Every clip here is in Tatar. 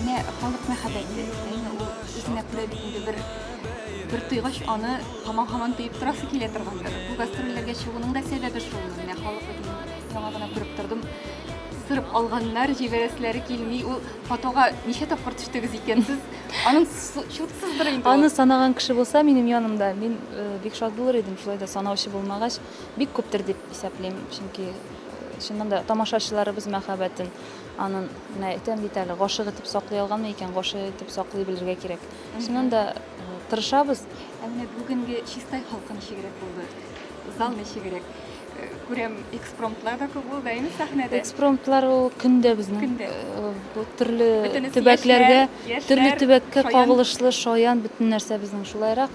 Менә халык мәхәббәте, әйе, ул үзенә күрә бит инде бер бер тойгач, аны һаман-һаман тоеп торасы килә торгандыр. Бу гастрольләргә чыгуның да сәбәбе шул. Менә халык бит инде, яңа гына күреп тордым, сырып алганнар, җибәрәселәре килми. Ул фотога ничә тапкыр төштегез икән сез? Аның су- чутсыздыр инде ул. Аны санаган кеше булса минем янымда, мин э, бик шат булыр идем, шулай да санаучы булмагач, Бик күптер дип исәплим, чөнки чыннан да тамашачыларыбыз мәхәббәтен анын, менә әйтәм бит әле, гашык итеп саклый алганмы икән, гашык итеп саклый белергә кирәк. Чыннан да тырышабыз. Ә менә бүгенге Чистай халкы ничегрәк булды? Зал ничегрәк? Күрәм, экспромтлар да күп булды, әйме, сәхнәдә? Экспромтлар ул көн дә безнең. Бу төрле төбәкләргә, төрле төбәккә кагылышлы, шаян бөтен нәрсә безнең. Шулайрак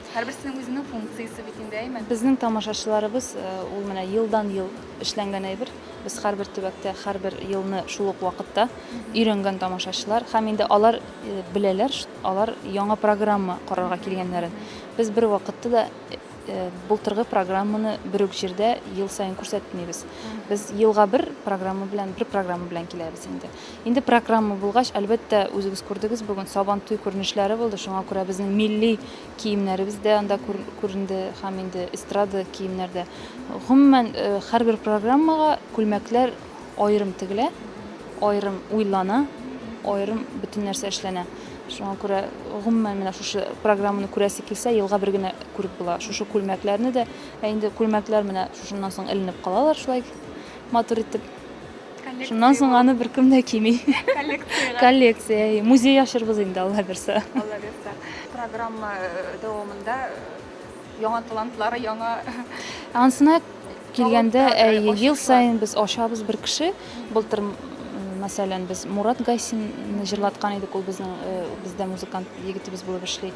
Һәрберсенең үзенең функциясе бит инде, әйме? Безнең тамашачыларыбыз ул менә елдан-ел эшләнгән әйбер. Без һәрбер төбәктә, һәрбер елны шул ук вакытта өйрәнгән тамашачылар. Һәм инде алар беләләр, алар яңа программа карарга килгәннәрен. Без бер вакытта да былтыргы программаны бер үк җирдә ел саен күрсәтмибез. Без елга бер программа белән, бер программа белән киләбез инде. Инде программа булгач, әлбәттә, үзегез күрдегез бүген Сабантуй күренешләре булды, шуңа күрә безнең милли киемнәребез дә анда күренде һәм инде эстрада киемнәр дә. Гомумән, э, һәрбер программага күлмәкләр аерым тегелә, аерым уйлана, аерым бөтен нәрсә эшләнә. Шуңа күрә гомумән менә шушы программаны күрәсе килсә, елга бер генә күреп була. Шушы күлмәкләрне дә, ә инде күлмәкләр менә шушыннан соң эленеп калалар шулай матур итеп. Шуннан соң аны беркем дә кими. Коллекцияга. Коллекция. Музей ачырбыз инде Алла бирсә. Алла бирсә. Программа э, дәвамында э, яңа талантлар, яңа Ансына килгәндә, әйе, ел саен без ачабыз бер кеше. Былтыр, мәсәлән, без Мурат Гайсинны җырлаткан идек, ул безнең э, бездә музыкант егетебез булып эшли.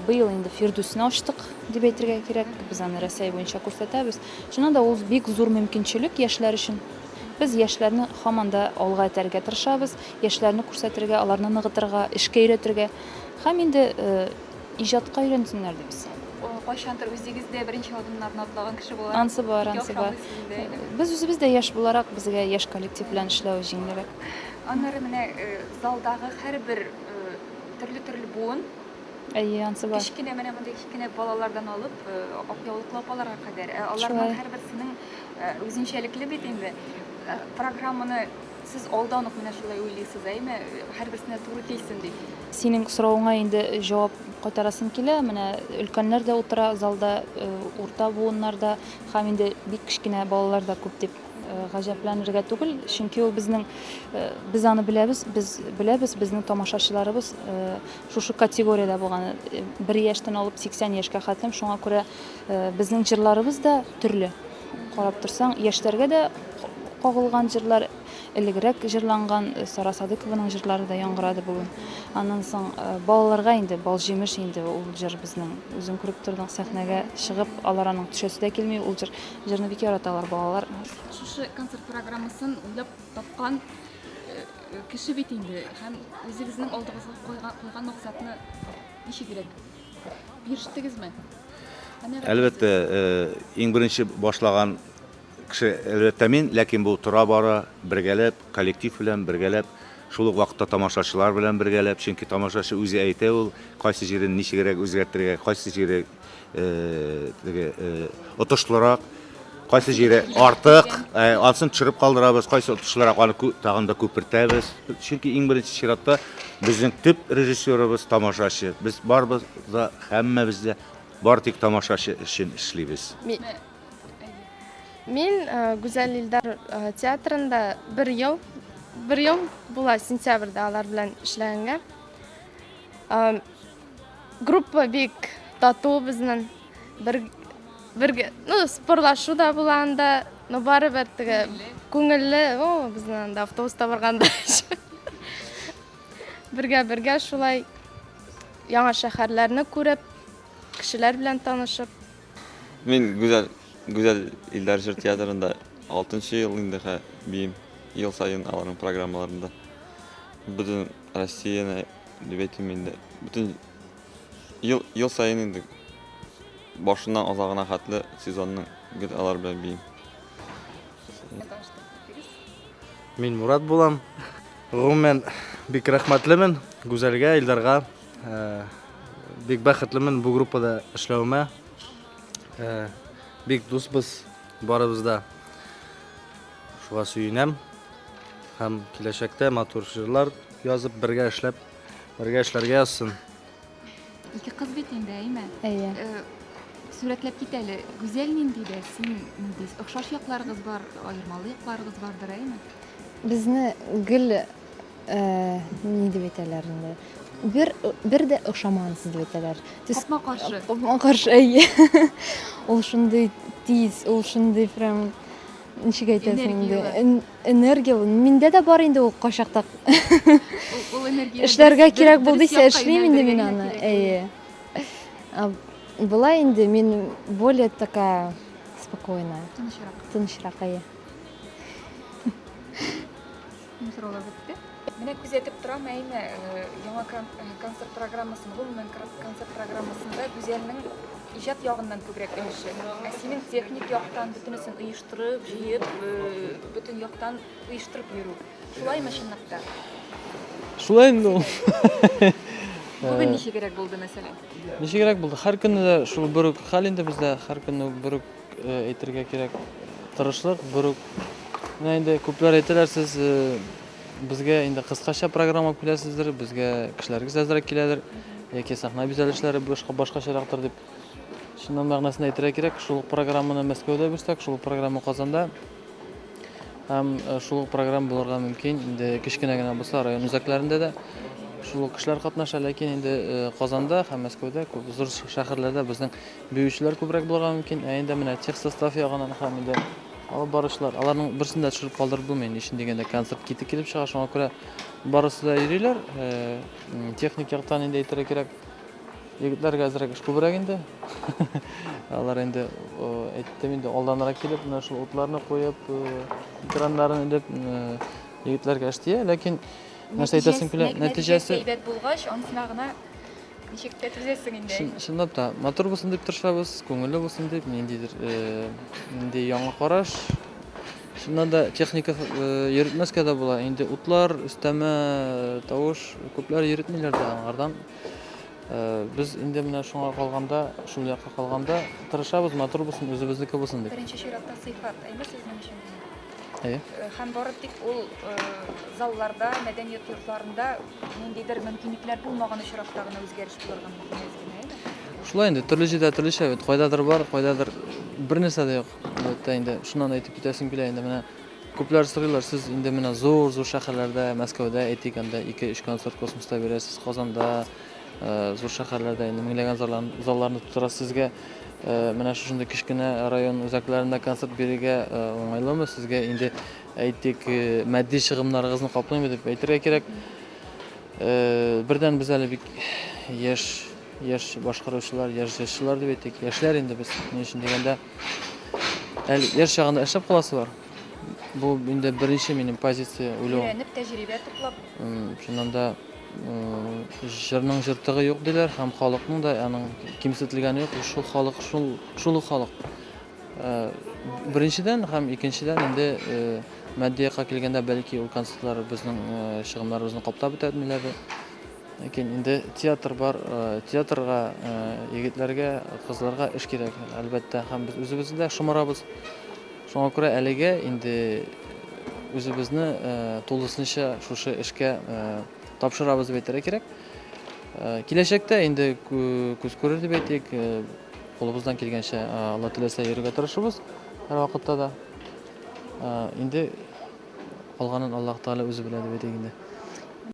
Быел инде Фирдүсне ачтык, дип әйтергә кирәк. Без аны Рәсәй буенча күрсәтәбез. Шуннан да ул бик зур мөмкинчелек яшьләр өчен. Без яшьләрне һаман да алга этәрергә тырышабыз, яшьләрне күрсәтергә, аларны ныгытырга, эшкә өйрәтергә һәм инде иҗатка өйрәнсеннәр дип без. Кайчандыр үзегез дә беренче адымнарны атлаган кеше буларак, ансы бар, ансы бар. Без үзебез дә яшь буларак, безгә яшь коллектив белән эшләү җиңелрәк. Аннары менә залдагы һәрбер төрле-төрле буын. Әйе, ансы бар. Кечкенә менә мондый кечкенә балалардан алып, ак яулыклы апаларга кадәр. Аларның һәрберсенең Э, үзенчәлекле бит инде э, программаны сез алдан ук менә шулай уйлыйсыз әйме һәрберсенә туры килсен дип синең соравыңа инде җавап кайтарасым килә менә өлкәннәр дә утыра залда э, урта буыннар да һәм инде бик кечкенә балалар да күп дип гаҗәпләнергә түгел чөнки ул безнең без аны беләбез без беләбез безнең тамашачыларыбыз шушы категориядә булган бер яшьтән алып сиксән яшькә хәтлем шуңа күрә Безнең җырларыбыз да төрле. Карап торсаң, яшьләргә дә кагылган җырлар, элегрәк җырланган Сара Садыкованың җырлары да яңгырады бүген. Аннан соң балаларга инде балҗимеш инде ул җыр безнең. Үзең күреп тордың, сәхнәгә чыгып, алар аның төшәсе дә килми ул җыр. Җырны бик яраталар балалар. Шушы концерт программасын уйлап тапкан кеше бит инде һәм үзегезнең алдыгызга куйган максатны ничегрәк Бирештегезме? Әлбәттә, иң беренче башлаган кеше әлбәттә мин, ләкин бу тора бара бергәләп, коллектив белән бергәләп, шул ук вакытта тамашачылар белән бергәләп, чөнки тамашачы үзе әйтә ул, кайсы җирен ничегрәк үзгәртергә, кайсы җире теге отышлырак, Кайсы җире артык, ансын төшереп калдырабыз, кайсы отышлырак аны тагын да күпертәбез. Чөнки иң беренче чиратта безнең төп режиссерыбыз тамашачы. Без барыбыз да, һәммәбез дә бары тик тамашачы өчен эшлибез. Мин Гүзәл Илдар театрында бер ел, бер ел була сентябрьдә алар белән эшләгәнгә. Группа бик тату безнең. Бер Бергә, ну, спорлашу да була анда, но барыбер теге күңелле, о, безнең анда автобуста барганда. Бергә-бергә шулай яңа шәһәрләрне күреп, кешеләр белән танышып. Мин гүзәл гүзәл илләр җыр театрында 6 нчы ел инде хә биим. Ел саен аларның программаларында. Бөтен Россияне дип әйтим инде. Бөтен Ел, ел саен инде башыннан азагына хәтле сезонның гел алар белән бии. Мин Мурат булам. Гомумән бик рәхмәтлемен Гүзәлгә, Илдарга. Э, бик бәхетлемен бу группада эшләвемә. Э, бик дусбыз барыбыз да. Шуга сөенәм. Һәм киләчәктә матур җырлар язып бергә эшләп Бергә эшләргә язсын. Ике кыз бит инде, әйме? Әйе. Э, Сурәтләп кит әле. Гүзәл нинди дә, син нинди? Охшаш якларыгыз бар, аермалы якларыгыз бардыр, әйме? Безне гел э, ни дип әйтәләр инде. Бер бер дә охшамансыз дип әйтәләр. Төс- Капма каршы. Капма каршы, әйе. Ул шундый тиз, ул шундый прям ничек әйтәсең инде энергиялы миндә дә бар инде ул кайчакта эшләргә кирәк булдыйса эшлим инде мин аны әйе была инде мин более такая спокойная тынычрак тынычрак әйе Мин сораулар бетте. Менә күзәтеп торам, әйме, э, яңа э, концерт программасын, гомумән концерт программасында Гүзәлнең иҗат ягыннан күбрәк өлеше. Ә синең техник яктан бөтенесен оештырып, җыеп, э, бөтен яктан оештырып йөрү. Шулаймы чынлап та? Шулай инде ул. Бүген ничегрәк булды, мәсәлән? Ничегрәк булды? Һәр көнне дә шул бер үк хәл инде бездә, һәр көнне бер үк Әйтергә кирәк, тырышлык, бер үк. Менә инде күпләр әйтәләр, сез безгә инде кыскача программа алып киләсездер, безгә кешеләрегез әзрәк киләдер, яки сәхнә бизәлешләре башка башкачарактыр дип. Шуннан мәгънәсен әйтергә кирәк, шул ук программаны Мәскәүдә бирсәк, шул ук программа Казанда. Һәм шул ук программа булырга мөмкин, инде кечкенә генә булса, район үзәкләрендә дә шул ук кешеләр катнаша, ләкин инде Казанда һәм Мәскәүдә, күп зур шәһәрләрдә безнең Биючеләр күбрәк булырга мөмкин, ә инде менә техсостав ягыннан һәм инде алып баручылар, аларның берсен дә төшереп калдырып булмый, ни өчен дигәндә концерт китек килеп чыга, шуңа күрә барысы да йөриләр. Э, техник яктан инде әйтергә кирәк, егетләргә әзрәк эш күбрәк инде. Алар инде әйттем инде алданрак килеп, менә шул утларны куеп, э, экраннарын элеп, э, егетләргә эш тия, ләкин нәрсә әйтәсем килә, нәтиҗәсе әйбәт булгач, ансына гына Ничек тә түзәсең инде. Чын, чынлап та, матур булсын дип тырышабыз, күңелле булсын дип, ниндидер, э, нинди яңа караш. Шуннан да техника э, йөртмәскә дә була. Инде утлар, өстәмә э, тавыш, күпләр йөртмиләр дә аңардан. Э, без инде менә шуңа калганда, шул якка калганда тырышабыз, матур булсын, үзебезнеке булсын дип. Беренче чиратта сыйфат, әйме сезнең өчен? Әйе. Э, һәм бары тик ул э, залларда, мәдәният йортларында ниндидер мөмкинлекләр булмаган очракта гына үзгәреш булырга мөмкин әзерме? Шулай инде, төрле җирдә төрлечә бит. Кайдадыр бар, кайдадыр бернәрсә дә юк. Әлбәттә инде, шуннан әйтеп китәсем килә инде менә күпләр сорыйлар, сез инде менә зур-зур шәһәрләрдә, Мәскәүдә әйтик, анда 2-3 концерт космоста бирәсез, Казанда, Зур шәһәрләрдә инде меңләгән залларны тутыра. Сезгә менә шушындый кечкенә район үзәкләрендә концерт бирергә уңайлымы? Сезгә инде, әйтик, матди чыгымнарыгызны каплыймы дип әйтергә кирәк. Бердән без әле бик яшь, яшь башкаручылар, яшь җырчылар дип әйтик. Яшьләр инде без. Ни өчен дигәндә, әле яшь чагында эшләп каласызлар. Бу инде беренче минем позиция уйлау. Өйрәнеп, тәҗрибә туплап. Чыннан да Җырның җыртыгы юк диләр һәм халыкның да аның кимсетелгәне юк. Шул халык, шул, шул ук халык. Э, беренчедән һәм икенчедән инде э, матди якка килгәндә бәлки ул концертлар безнең э, чыгымнарыбызны каптап бетәдмиләр ләкин инде театр бар театрга егетләргә кызларга эш кирәк әлбәттә һәм без үзебез дә шомарабыз Шуңа күрә әлегә инде үзебезне тулысынча шушы эшкә тапшырабыз дип әйтергә кирәк. Киләчәктә инде күз күрер дип әйтик, кулыбыздан килгәнчә Алла теләсә йөрергә тырышыбыз һәр вакытта да. Инде калганын Аллаһ Тәгалә үзе белә дип әйтик инде.